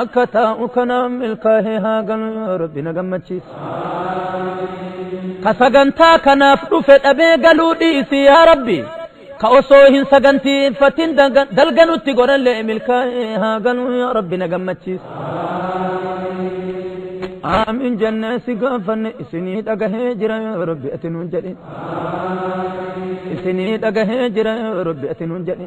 Akka taa'u kanaan milkaahee haa galu yoo rabbi na gammachiise. Ka sagantaa kanaaf dhufe dhabee galuu dhiisi yaa rabbi. Ka osoo hin sagantiiffatin dalga nutti godhallee milkaahee haa galu yoo rabbi na gammachiise. Aamiin jennee si gaafanne isinii dhagahee jira yoo rabbi ati nuun jedhi. Isinii dhagahee jira yoo rabbi ati nuun jedhi.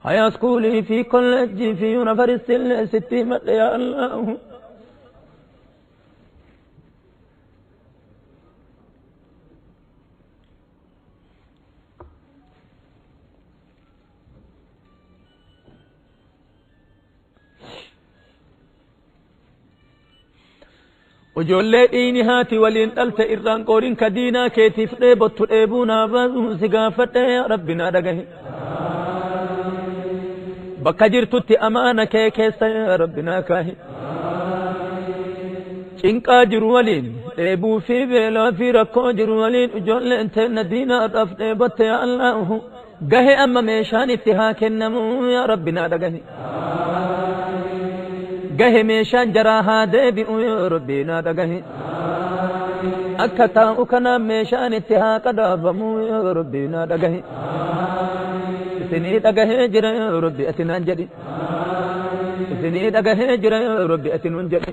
Haya schoolii fi college fi university illee sitti himadhe yaa Allahu. Ijoollee dhiini haati waliin dhalte irraan qooriin ka diinaa keetiif dheebottu dheebuu naa baasuun si gaafadhe yaa rabbi naa dhagahi. Bakka jirtutti amaana kee keessa yaa rabbi naa kaahi. Cinqaa jiru waliin dheebuu fi beelaa fi rakkoo jiru waliin ijoolleen teenna diinaa dhaaf dheebotte yaa Allaahu. gahe amma meeshaan itti haa kennamu yaa rabbi naa dhagahi gahe meeshaan jaraa haa deebi'u yaa rabbi naa dhagahi akka taa'u kanaan meeshaan itti haa qadaabamu yaa rabbi naa dhagahi isinii dhagahee jira yaa rabbi ati naan jedhi isinii dhagahee jira yaa rabbi ati nuun jedhi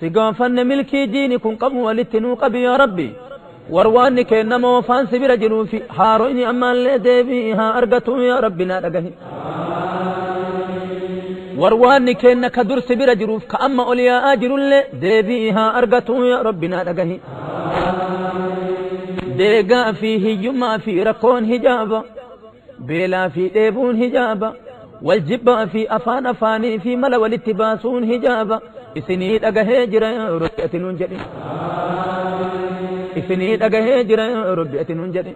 Si gaafanne milkii diini kun qabu walitti nuu qabi yaa rabbi warwaanni keenna moofaan si bira jiruu fi haaroyni ammaallee deebii haa argatu yaa rabbi naa dhagahi warwaanni keenna ka dur si bira jiruuf ka amma ol yaa'aa jirullee deebii haa argatu yaa rabbi naa dhagahi deegaa fi hiyyummaa fi rakkoon hijaaba Beelaa fi dheebuun hijaaba. Wal jibbaa fi afaan afaanii fi mala walitti baasuun hijaaba. Isinii dhagahee jira yaa Rabbi ati nuun jedhi. Isinii dhagahee jira yaa Rabbi ati nuun jedhi.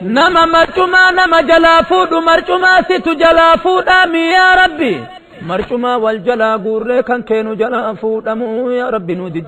Nama marcumaa nama jalaa fuudhu marcumaa situ jalaa fuudhaa mi yaa Rabbi. Marcumaa wal jalaa guurree kan keenu jalaa fuudhamu yaa Rabbi nuu didi.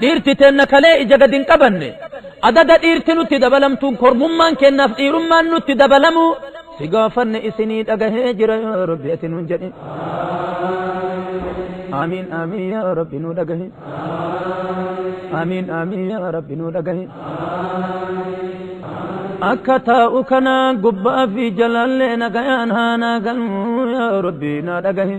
Dhiirti teenna kalee ija gad hin qabanne, adaga dhiirti nutti dabalamtuun kormummaan keennaaf dhiirummaan nutti dabalamuu si gaafanne isinii dhagahee jira yaa Rabbi ati nuun jedhi. Aamiin aamiin yaa Rabbi nuu dhagahi. Aamiin aamiin yaa Rabbi nuu dhagahi. Akka taa'u kana gubbaa fi jalaallee nagayaan haa naa galmu yaa Rabbi naa dhagahi.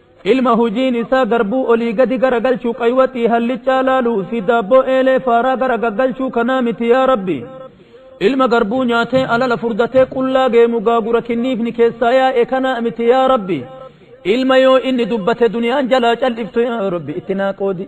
Ilma hojiin isaa garbuu olii gadi garagalchu qaywaxii hallichaa laalu fi daabboo eelee faaraa gara gaggalchuu kanaa miti yaa rabbi ilma garbuu nyaatee alala furdatee qullaa geemu gaagura kinniifni keessaa yaa'e kanaa miti yaa rabbi ilma yoo inni dubbate duniyaan jalaa cal'iftu yaa rabbi itti naa qoodi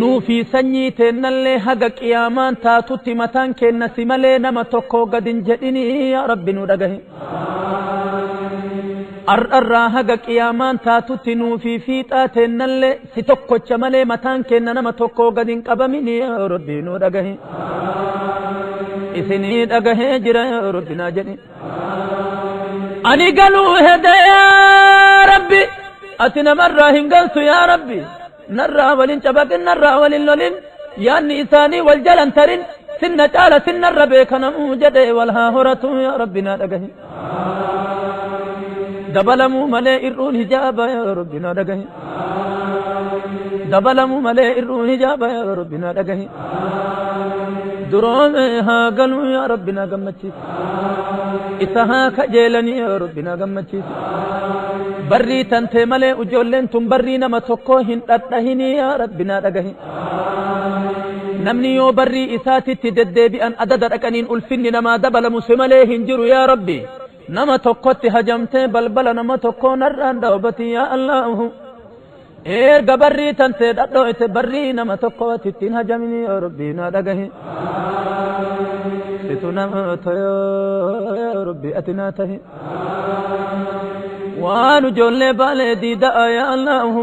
Nuu fi sanyii teennallee haga qiyaamaan taatutti mataan keenna si malee nama tokkoo gad hin jedhinii yaa Rabbi nu dhagahi. Ar'arraa haga qiyaamaan taatutti nuu fi fiixaa teennallee si tokkocha malee mataan keenna nama tokkoo gad hin qabaminii yaa Rabbi nu dhagahi. Isinii dhagahee jira yaa Rabbi naa jedhi. ani galuu hede yaa rabbi ati namarraa hin galtu yaa rabbi narraa walin cabaqin narraa walin lolin yaanni isaanii wal jalan tarin sinna caala sinnarra beekanamuu jedhe wal haa horatu yaa rabbi naa dhagahi dabalamuu malee ir'uun hijaaba yaa rabbi naa dhagahi dabalamu malee ir'uu hijaaba yaa rabbi naa dhagahi duroome haa galu yaa rabbi naa gammachiisi isa haa kajeelanii yaa rabbi naa gammachiisi barrii tantee malee ijoolleen tun barrii nama tokkoo hin dhadhahinii yaa rabbi naa dhagahi namni yoo barrii isaatitti deddeebi'an adada dhaqaniin ulfinni namaa dabalamu si malee hin jiru yaa rabbi nama tokkotti hajamtee balbala nama tokkoo narraan dhawbati yaa allaahu erga barrii tantee dhadhooyte barrii nama tokko ati ittiin hajamini yoo rabbii naa dhagahi situ nama toyoo rabbii ati naa tahi waan ijoollee baalee diida'a yaa allaahu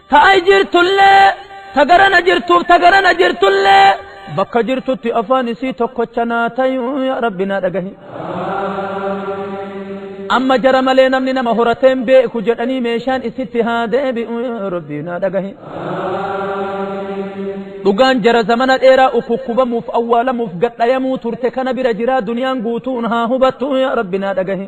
Ta ai jirtullee, ta garana jirtuuf ta garana jirtullee bakka jirtutti afaan isii tokkocha naa tayuu yaa rabbi naa dhagahi. Amma jara malee namni nama horatee hin beeku jedhanii meeshaan isitti haa deebi'u yaa rabbi naa dhagahi. Dhugaan jara zamana dheeraa ukukkubamuuf awwaalamuuf gadhayamuu turte kana bira jiraa duniyaan guutuun haa hubattu yaa rabbi naa dhagahi.